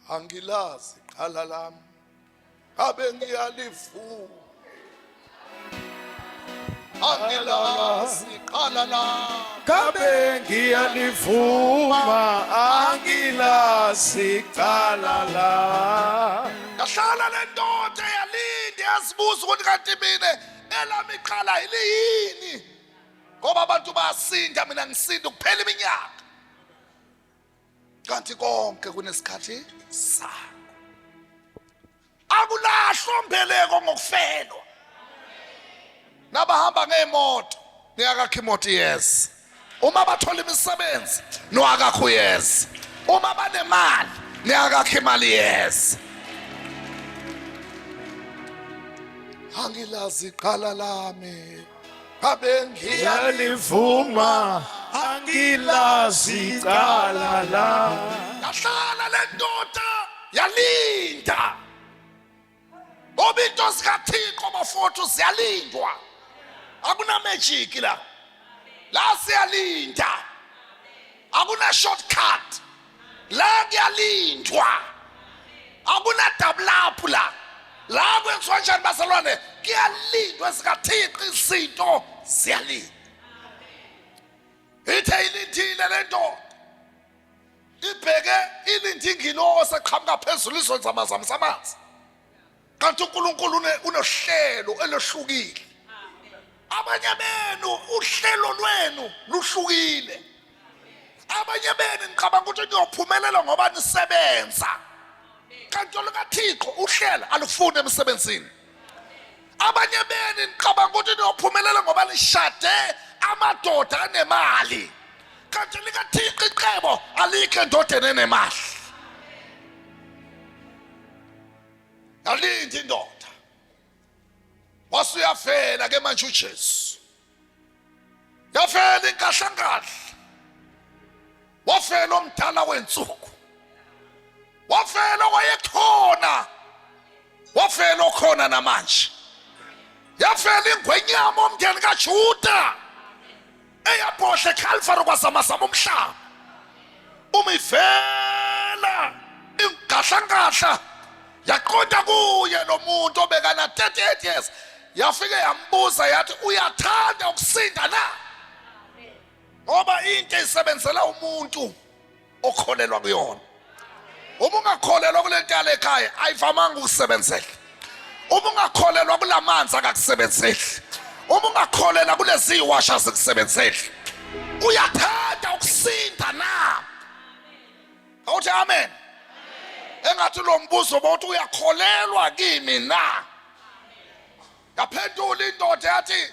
angilazi qala lami ngabe ngiyalivuma angilazi qala lami ngabe ngiyalivuma angilazi qala lami yahlala le ndoda yalinde yazibuza ukuthi kanti mina elami qala yiliyini ngoba abantu bayasinda mina ngisinda kuphela iminyaka kanti konke kunesikhathi sakho akulahlwa mbeleko ngokufelwa nabahamba ngeemoto niyakakha imoto iyeza uma bathola imisebenzi niwakakha uyeza uma banemali niyakakha imali iyeza angilazi iqala lami abengiyalivuma angilazi cala la yahlala le ndoda yalinda ngoba into zikathixo bafowethu ziyalindwa akunamejiki la la siyalinda akuna-shortcut la kuyalindwa akunadabulaphu la la kwenziwa njani bazalwane kuyalindwa sikathixo izinto ziyalindwa ithe ilindile le ndoda ibheke ilinde ingilosi eqhamuka phezulu izonzamazamisa amanzi kanti uNkulunkulu unohlelo elohlukile abanye benu uhlelo lwenu luhlukile abanye benu ngicabanga ukuthi niyophumelela ngoba nisebenza kanti olukathixo uhlela alufuni emsebenzini abanye beni ngicabanga ukuthi niyophumelela ngoba nishade amadoda anemali kanti likathixo icebo alikho endodeni enemali yalinda indoda wase uyafela ke manje uJesu yafela inkahlankahla wafela omdala wensuku wafela wayekhona wafela okhona namanje yafela ingwenyama omndeni kaJuda eyabohle ekhalifari kwazamazama umhlaba uma ivela ingahlankahla yaqonda kuye lo muntu obekana 38 years yafike yambuza yathi uyathanda ukusinda na ngoba into isebenzela umuntu okholelwa kuyona uma ungakholelwa kule nto yale ekhaya ayivamanga ukusebenzela uma ungakholelwa kula manzi akakusebenzeli uma ungakholelwa kulezi yiwasha zikusebenzeli uyathanda ukusinda na awuthi amen engathi lo mbuzo bawuthi uyakholelwa kimi na yaphendula indoda yathi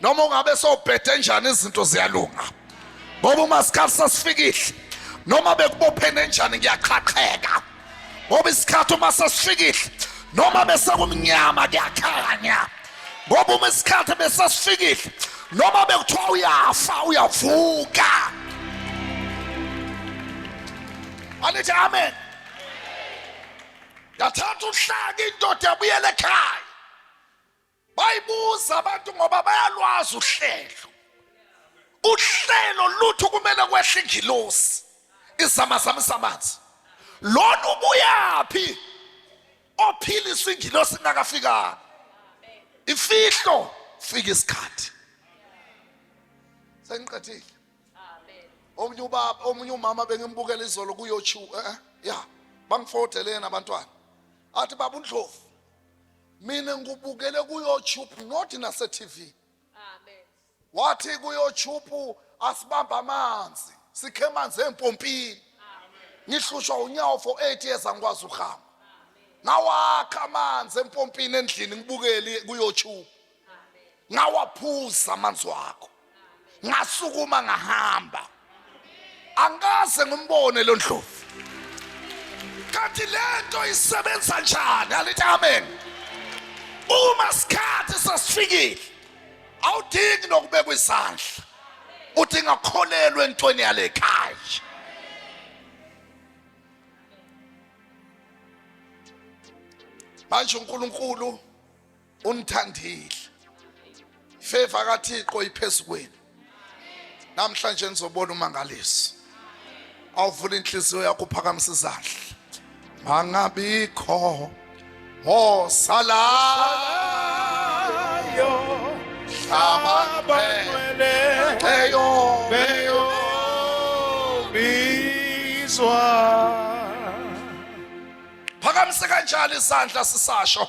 noma ungabe sowubhede njani izinto ziyalunga ngoba uma sikhathi sasifikile noma bekubophene njani ngiyaqhaqheka ngoba isikhathi uma sasifikile noma besekumnyama kuyakhanya ngoba uma isikhathi besasifikile noma bekuthiwa uyafa uyavuka anithi amen yathatha uhlaka indoda yabuyela ekhaya bayibuza abantu ngoba bayalwazi uhlelo uhlelo lutho kumele kwehle ingilosi izamazamisa amanzi lona ubuyaphi ophiliswa ingilosi ingakafikanga imfihlo fika isikhathi sengiqedile omunye ubaba omunye umama bengimbukela izolo kuyochu eh, eh ya bangifotheleni abantwana athi baba undlovu mina ngikubukele kuyoutube not nasetv amen wathi kuyoutube asibambe amanzi sikhe amanzi empompini ngihlushwa unyawo for 8 years angikwazi ukuhamba ngawakha amanzi empompini endlini ngibukeli kuyoutube ngawaphuza amanzi wakho ngasukuma ngahamba angikaze ngimbone lo ndlovu kanti lento isebenza njani alithi amen uma sikhathi sasifikile awudingi nokubekwa izandla udinga kukholelwa entweni yale khaya manje uNkulunkulu unithandile favor kaThixo iphezu kwenu namhlanje nizobona umangaliso awuvula inhliziyo yakho uphakamisa izandla mangabikho osalayo hlabakwele eyo beyo bizwa phakamise kanjalo izandla sisasho